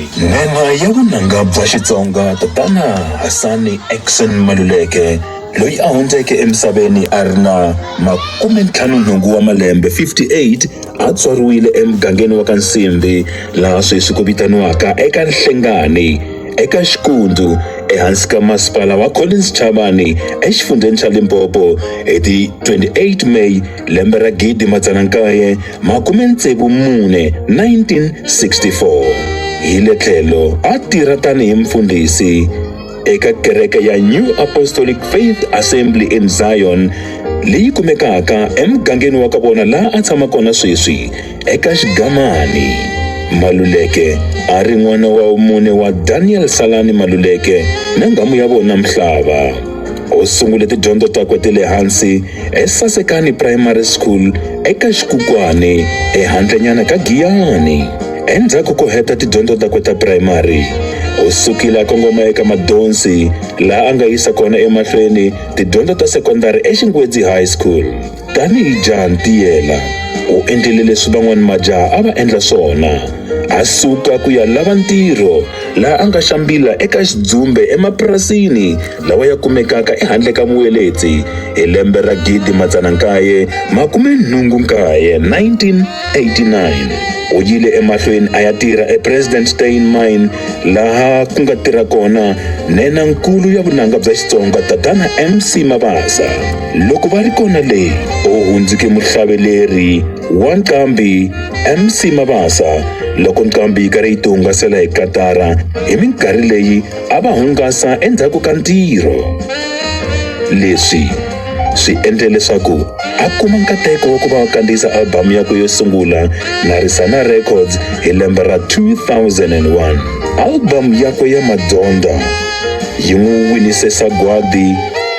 N'anga ya vunanga bya Xitsonga tatana Hasani Action Maluleke loyi a hundzeke emisaveni a ri na makume ntlhanu nhungu wa malembe 58 a tswariwile emugangeni wa ka Nsimbi laha sweswi ku vitaniwaka eka Nhlengani eka Xikundu ehansi ka masipala wa Collins Chavani exifundzheni xa Limpopo hi ti 28 May lembe ra gidi madzana nkaye makume ntsevu mune 1964 hi le tlhelo a tirha tanihi mfundhisi eka kereke ya new apostolic faith assembly in zion leyi kumekaka emugangeni wa ka vona laha a tshama kona sweswi eka xigamani maluleke a ri n'wana wa mune wa daniel salani maluleke na nghamu ya vona mhlava u sungule tidyondzo takwe ti le hansi eSasekani Primary School eka Xikukwane ehandlenyana ka Giyani. Endzhaku ko heta tidyondzo takwe ta primary, u sukile a kongoma eka Madonsi laha a nga yisa kona emahlweni tidyondzo ta sekondari eXingwedzi High School. Tanihi jaha ntiyela, u endlile leswi van'wana majaha a va endla swona, a suka ku ya lava ntirho laha a nga xambila eka xidzumbe emapurasini lawa ya kumekaka ehandle ka vuweledzi hi lembe ra 1989, 1989 u yile emahlweni a ya tirha ePresident Steyn Mine laha ku nga tirha kona nena-nkulu ya vunanga bya Xitsonga Tatana MC Mabasa. Loko va ri kona le, u hundzuke muhlaveleri wa nqambi MC Mabasa loko nqambi yi karhi yi tihungasela hi katara hi minkarhi leyi a va hungasa endzhaku ka ntirho leswi swi endle leswaku a kuma nkateko wa ku va kandziyisa albhamu yakwe yo sungula Narisana Records hi lembe ra 2001 albhamu yakwe ya Madzondza yi n'wi winise sagwadi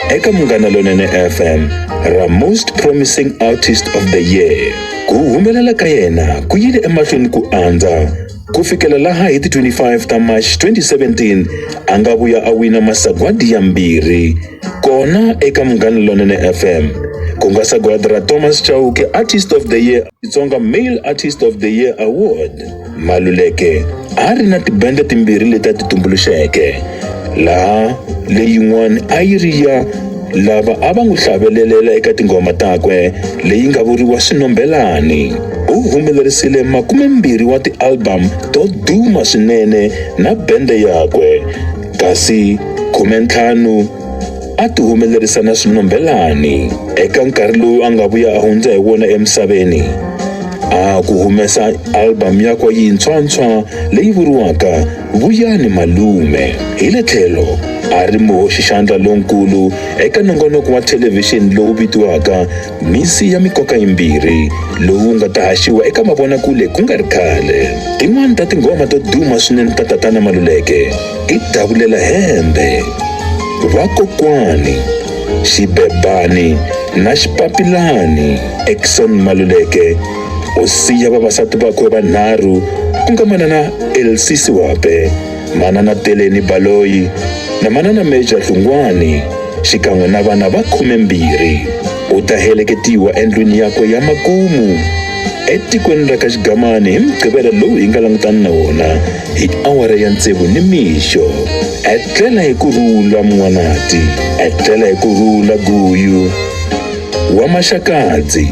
eka Munghana Lonene FM ra Most Promising Artist of the Year ku humelela ka yena ku yile emahlweni ku andza Ku fikela laha hi ti 25 ta March 2017 a nga vuya a wina masagwadi yambirhi kona eka Munghana Lonene FM ku nga sagwadi ra Thomas Chauke Artist of the Year Xitsonga Male Artist of the Year Award. Maluleke a ri na tibende timbirhi leti a ti tumbuluxeke laha leyin'wana a yi ri ya lava a va n'wi hlavelelela eka tinghoma takwe leyi nga vuriwa Swinombelani. U humelerisile makumembirhi wa ti-album to duma swinene na bende yakwe, kasi khumentlhanu a ti humelerisa na Swinombelani. Eka nkarhi lowu a nga vuya a hundza hi wona emisaveni, a ku humesa album yakwe yintshwa-ntshwa leyi vuriwaka Vuyani Malume hi le tlhelo a ri muhoxixandla lonkulu eka nongonoko wa thelevhixini lowu vitiwaka Misi ya Mikoka Yimbirhi lowu nga ta haxiwa eka mavonakule ku nga ri khale. Tin'wana ta tinghoma to duma swinene ta Tatana Maluleke i Davulela Hembe, Vakokwani, Xibebani na Xipapilani. Exon Maluleke u siya vavasati vakwe vanharhu ku nga manana Elsie Siwape, manana Teleni Baloyi na manana Major Dlungwani xikan'we na vana va khumembirhi. U ta heleketiwa endlwini yakwe ya makumu etikweni ra ka Xigamani hi Mugqivela lowu hi nga langutana na wona hi awara ya tsevu ni mixo. Etlela hi ku rhula Mun'wanati, etlela hi ku rhula Guyu wa Maxakadzi.